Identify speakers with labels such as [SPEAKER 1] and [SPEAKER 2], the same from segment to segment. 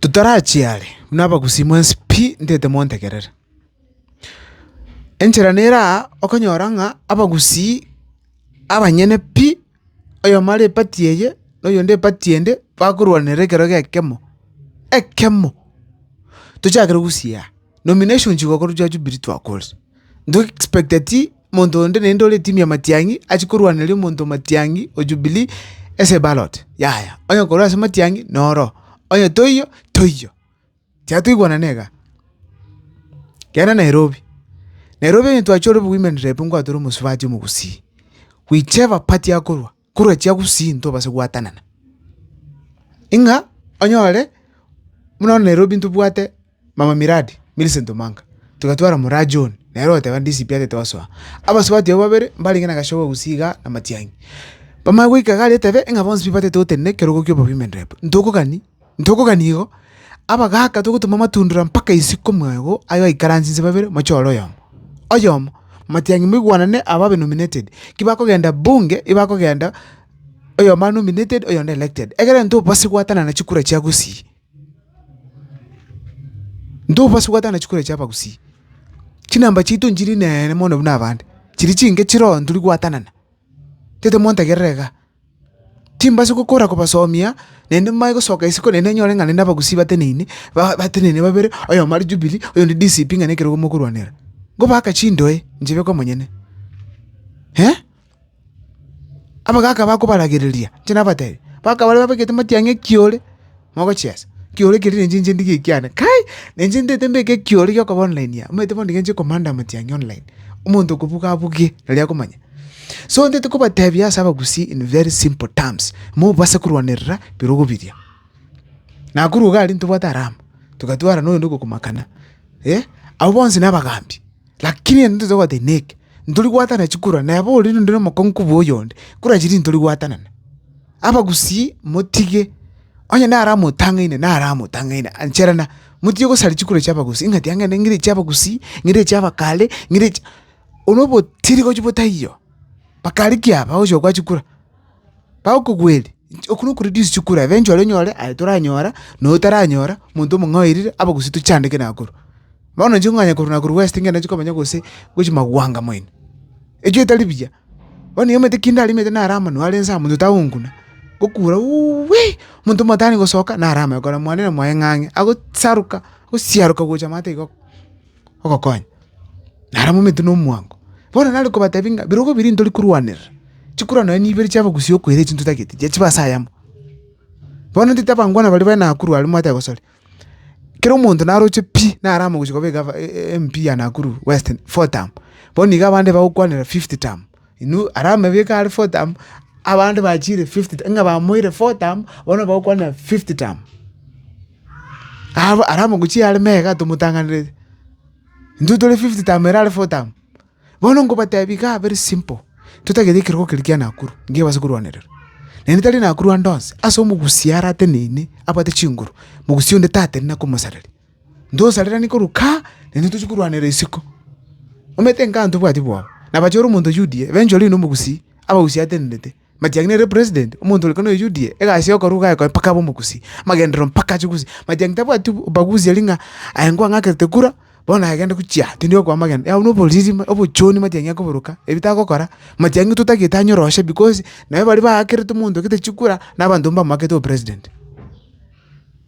[SPEAKER 1] Totarachia are, buna abagusii mwensi pi, ntete montegerere. Enchera nere aa okonyora ng'a abagusii abanyene pi, oyomo are epati eye na oyonde epati ende, bakorwanera ekero gekemo, ekemo! Tochakere gogusia aa. Nomination chigokoro chia Jubilee twakore. Nto expect ati monto onde naende ore team ya Matiang'i achi korwaneria omonto o Matiang'i o Jubilee ase eballot. Yaya, onye korwa ase Matiang'i noro, onye toiyo, toiyo. Tiga toigwanane iga. Genda Nairobi, Nairobi onye twachia ore bo women rep ngwatore omosubati omogusii, whichever party akorwa. korwa chiagusii ntobase goatanana, ing'a onyore buna bono Nairobi ntobwate mama miradi Millicent Omanga, togatwara moraa John nere ogoteba DCP atete gosoa, abasubati abwo babere mbarenge na Gachagua gusii igaa na Matiang'i, bamanye goika iga aria etebe ng'a bonsi pi batete gotenena ekerogo kia obobima en rep, ntokogani. Ntokogania igo, abagaaka togotoma amatundura mpaka isiko omwago aye oikaransie inse babere mochore oyomo oyomo. Matiang'i moigwanane aba abe nominated, ki bakogenda bunge ebakogenda oyomo are nominated oyonde elected. Egere ntobobasi gwatanana chikura chia Gusii. Ntobobasi gwatanana chikura chia Abagusii. Chinamba chiaito nchiri nene mono buna abande. Chiri chinke chire oo ntori gwatanana. Tete montegerere iga. Timbasi gokora kobasomia, naende nimanye gosoka isiko naende enyore ng'a naende abagusii bateneine, ba- bateneine babere, oyomo are Jubilee, oyonde DCP ng'a nekerogo mokorwanera. Ngobaaka chindoe, inche beka omonyene. Eh! Abagaka bakobaragereria, inche nabatebi, baka baria babegete matiang'a ekiore. mogochiesa, ekioro ekio rende inche ndigee ekiane kai, na inche ntaete mbeke ekioro giokoba online aa, omanyete bono nigo nche komanda amatiang'i online, omonto okobuga abuge nari akomanya. So ntaete kobatebia ase abagusii in very simple terms, mobase korwanerera bire ogobiria. Nakorwa iga aria ntobwate alama, togatwarana oyonde ogokomakana, eh, abwo bonsi na abagambi. Lakini ere ntote goteba, Inee! Ntori gwatanana chikura? Neba oria nonde nomokong'u kobua oyonde, kura chiria ntori gwatanana. Abagusii motige, onye naro amotang'aine naro amotang'aine, ancherana, motige gosaria chikura chia abagusii, ng'a tiang'ende ng'ire chia abagusii, ng'ire chia abakare, ng'ire chi. Obo nobotiri gochia botaiyo, bakare ki aba ogochia gokwa chikura? bagokogweria, inche okwo nokore risiche okore abe nchore nyore aye toranyora, noyo otaranyora, omonto omong'ao oirire abo gose tochandeke na korwa. Bono inche kong'anya korwa na korwa west ngenda inche komanya gose gochia magwanga mwaino, echio etari buya, bono eamate ki ndarimete naro amo naro arense amo monto tagonguna, gokura uuwii, omonto omotaani gosoka naro amo ekora mwane na mwaye ng'a ang'e, agosaruka, agosiaruka gocha amato igo. ogokonya, naro mominto na omwango. Bono nare kobatebia ng'a birogo biria ntori korwanerera, chikorwa nonya ne ibere chia abagusii okoira echio ntotagete, inche chiba ase ayamo. Bono ntete abangwana baria bare Nakuru aria mobate gosaria, kera omonto naroche pi, naro amogochie koba egava MP ya Nakuru West four term, bono iga abande bagokwanera fifth term. Inwe are amabiko are fortamu, abande bachiire fifty tamu, ng'a bamoeire fortamu, bono bagokwana fifty tamu. Aba are amaguchi are mega tomotang'anereti, intwe tore fifty tamu ere are fortamu. Bono ngobatebie igaa very simple, totagete ekerogo keria kia nakuru, ngecho ebase korwanererwa. Naende tari nakuru ande onsi, ase omogusia arateneine abwate chinguru, mogusia onde tateneine akomosareria. Ntosareranie korwa kaa, naende ntochie korwanera isiko. Omanyete inkaa ntobwati bwao. Nabache ore omonto o UDA, eventually oyio nomogusii, abagusii atenenete. But yang'ina ere president, omonto ore kane o UDA, egasi ya okorwa iga ayekoe mpaka abe omogusii, amagenderero mpaka ache gusii. But yang'ina tabwati ubaguzi aria ng'a aye nigo ang'akerete kura, bono aye gende gochia tindi gokwa amagena. Yao noboriri ma obochoni mati yang'ina koboroka, ebi tagokora, mati yang'ina totagete anyoroshe because, naye baria baakerete omonto ogete chikura, nabanto mbamwakete obopresident.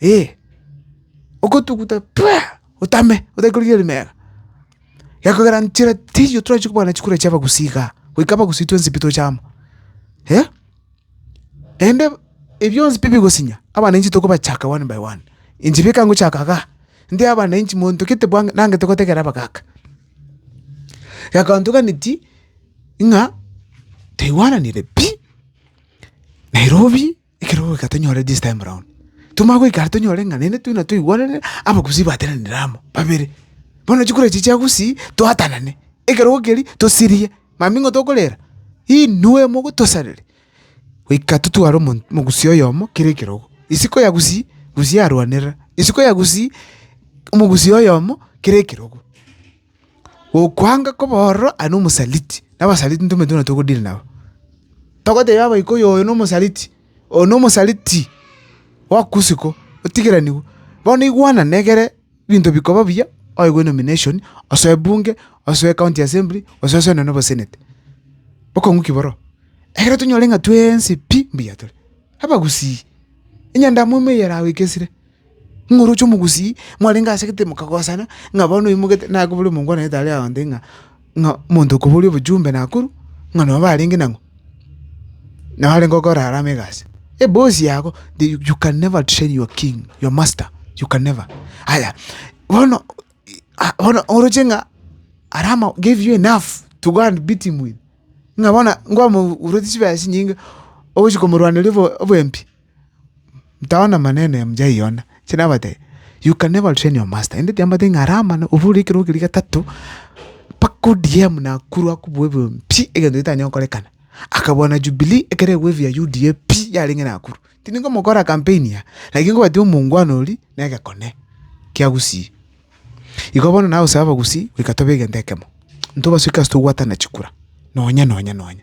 [SPEAKER 1] eh, ogotuguta pua! otame otake korigia rimero. Gekogera nchera teiyo torachi kobana chikura chia abagusii igaa, goika abagusii twensi pi toche amo eh, naende ebionsi pi bigosinya abananchi tokobachaka one by one. Inche bika ngochaka igaa, nde abananchi monto gete bwango nangete gotegera abagaka. Gekantoganeti ng'a taigwananire pi, Nairobi. Ekero goika tonyore this time round, twamanya goika aria tonyore ng'a naende twina twaigwanane abagusii batenanire amo babere. Bono chikura echi chia gusii twatanane, ekero gokieri tosirie, mambia ng'o tokorera? Inwe mogotosareri. Goika totware omon omogusii oyomo kera ekerogo, isiko ya gusii, gusii arwanera isiko ya gusii, omogusii oyomo kera ekerogo. Gokwanga koba ororo aye nomosaliti, na abasaliti intwe mbaito buna togodili nabo. Togoteba abaika oyo oyo nomosaliti, oyo nomosaliti bwakosiko, otigeranigwe. Bono igwanane egere ebinto bikoba buya, oegwe enomination, osoe bunge, osoe county assembly, gose osoe nonye na oboseneti. Bokong'u ki bororo? Ekero tonyore ng'a twensi pi mbuya tore, abagusii, onye endamwamu eye eragoikesire. Ng'a oroche omogusii, mwarenge ase egetebe mokagosana, ng'a bono oyo omogete nakoboria omongwanete aria aonde ng'a ng'a omonto okoboria obochumbe nakorwa, ng'a nabo barenge nang'o, nabo arenge gokora harambee egasi. Eboss yago the you can never outshine your king, your master, you can never. Aya, bono bono oroche ng'a aria ama gave you enough to go and beat him with, ng'a bono nkwamorwa chibesa chinyinge ogochi komorwaneria obo oboempi. Tao namanene mjaiona, chire nabate you can never train your master ende tiamanyete ng'a aramana obure ekero keria getato mpaka odm nakuru akobua ebibe pi egento getanyare gokorekana akabua na jubilee ekero egwa ebi ya UDA pi yarenge nakuru tindi komokora campaign iga lakini nkobwati omongwana oria na egekone kia gusii igo bono nagosaba abagusii goika tobe egento ekemo intwe basoki ase togwatana chikura nonya nonya nonya.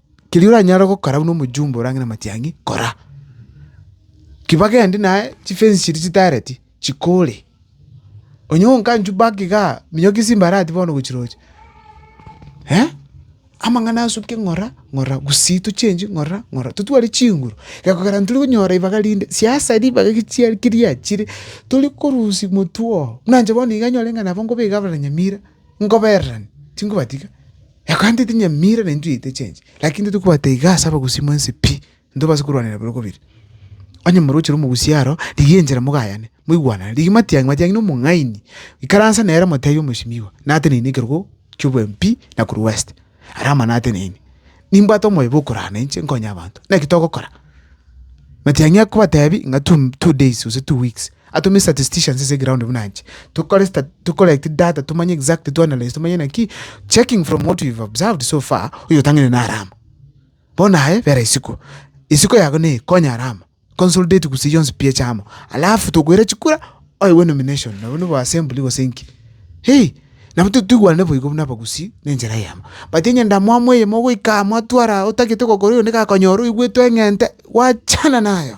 [SPEAKER 1] Keria oranyare gokora buna omojumbe orange namatiang'i, kora. Ki bagende naye chifensi chiria chitaareti, chikore. Onye okanchwa back igaa, minyoka ase embarati bono gochiroche, amang'ana asokia ng'ora ng'ora gusii tochengi ng'ora ng'ora totware chinguru, gekogera ntari konyora ribaga rinde, siasa ribaga egechiari keriachire, tori korusia motwe oo. Buna inche bono iga nyore ng'a nabo nkobeka abanyamira, nkobererani, tinkobatiga. Ekogenda etinyamira na intwe yaito echenche, lakini intwe tokobwata iga ase abagusii mwensi pi, ntobase korwanera bire kobire. Onye moroche omogusii aro, rigia enchera mogayane, moigwanane, rigia matiang'i matiang'i na omong'aini, ikaransa nere moteebie omosimiwa, nateneine ekerogo ki'oboembi pi na korwa west, aria ama nateneine. Nimbwate omoyo bw'okorana inche nkonye abanto, naki togokora? Matiang'i akobateebia ng'a two days gose two weeks. Atome statisticians ase eground buna inche, tokore stat, to collect data, tomanye exactly, to analyse, tomanye naki, checking from what we've observed so far, oyotang'aine nare amo. Bono aye bera isiko, isiko yago neye, konya are amo, consolidate gusii yonsi pi eche amo, alafu tokoira chikura, oigwe nomination, nabo nigo assembly gose inki, hei, nabo to toigwane boigo buna abagusii na enchera eyemo. But onye ndamwamu eyemo goika mwatwara otagete gokora oyo niga akonyora oigwete eng'ente, gwachana nayo.